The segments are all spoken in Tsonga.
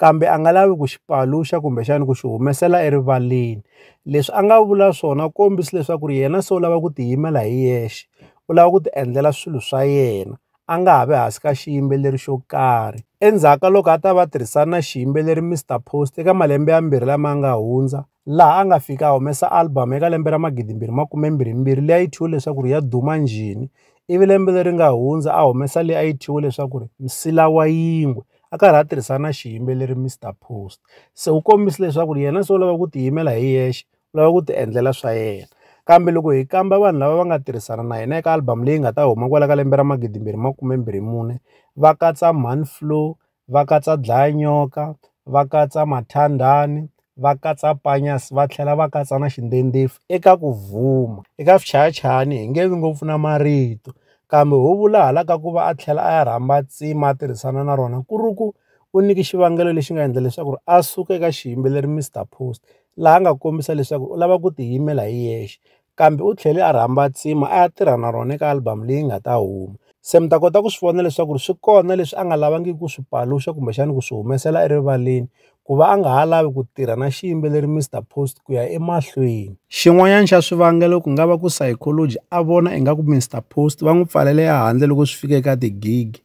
kambe a nga lavi ku xi paluxa kumbexana ku xi humesela erivaleni leswi a nga vula swona u kombisa leswaku ri yena se u lava ku ti yimela hi yexe u lava ku ti endlela swilo swa yena a nga ha vi hansi ka xiyimbeleri xo karhi endzhaku ka loko a ta va tirhisana na xiyimbeleri Mister Post eka malembe ya mbirhi lama nga hundza laha a nga fika a humesa album eka lembe ra magidi mbirhi makume mbirhi mbirhi leyi a yi thyiwe leswaku ri ya duma njhini ivi lembe leri nga hundza a humesa leyi a yi thyiwe leswaku ri nsila wa yingwe a karhi a tirhisa na xiyimbeleri Mister Post se u kombisa leswaku yena se u lava ku tiyimela hi yexe u lava ku ti endlela swa yena kambe loko hi kamba vanhu lava va nga tirhisana na yena eka album leyi nga ta huma kwala ka lembe ra magidi mbirhi makume mbirhi mune va katsa Manflow va katsa Dlaya Nyoka va katsa Mathandani va katsa Panjaz va tlhela va katsa na xindendeffu eka ku vuma. Eka Swichayachayani hi nge vi ngopfu na marito, kambe ho vula hala ka ku va a tlhela a ya rhamba tsima a tirhisana na rona ku ri ku u nyike xivangelo lexi nga endla leswaku a suka eka xiyimbeleri Mister Post laha a nga kombisa leswaku u lava ku tiyimela hi yexe. kambe u tlhele a rhamba tsima a ya tirha na rona eka album leyi nga ta huma. Se mi ta kota ku swi vona leswaku swi kona leswi a nga lavangiki ku swi paluxa kumbexana ku swi humesela erivaleni ku va a nga ha lavi ku tirha na xiyimbeleri Mister Post ku ya emahlweni. Xin'wanyana xa swivangelo ku nga va ku Sycology a vona ingaku Mister Post va n'wi pfalele ehandle loko swi fika eka ti-gig.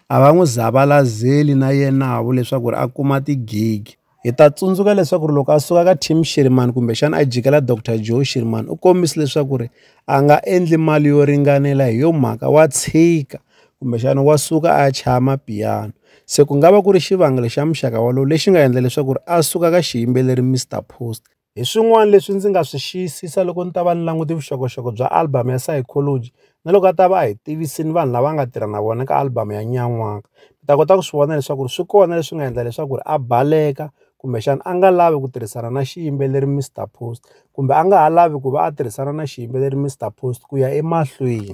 A va n'wi zavalazeli na yenavo leswaku a kuma ti-gig. Hi ta tsundzuka leswaku ri loko a suka ka Tim Shirimani kumbexana a jikela Dr Joe Shirimani u kombise leswaku ri a nga endli mali yo ringanela hi yo mhaka wa tshika kumbexana wa suka a ya chaya mapiyano se ku nga va ku ri xivangelo xa muxaka wolowo lexi nga endla leswaku ri a suka ka xiyimbeleri Mister Post. Hi swin'wana leswi ndzi nga swi xiyisisa loko ni ta va ni languti vuxokoxoko bya album ya Sayikholoji na loko a ta va a hi tivise ni vanhu lava nga tirha na vona ka album ya Nyan'waka. Ni ta kota ku swi vona leswaku swi kona leswi nga endla leswaku ri a baleka kumbexana a nga lavi ku tirhisana na xiyimbeleri Mister Post kumbe a nga ha lavi ku va a tirhisana na xiyimbeleri Mister Post ku ya emahlweni.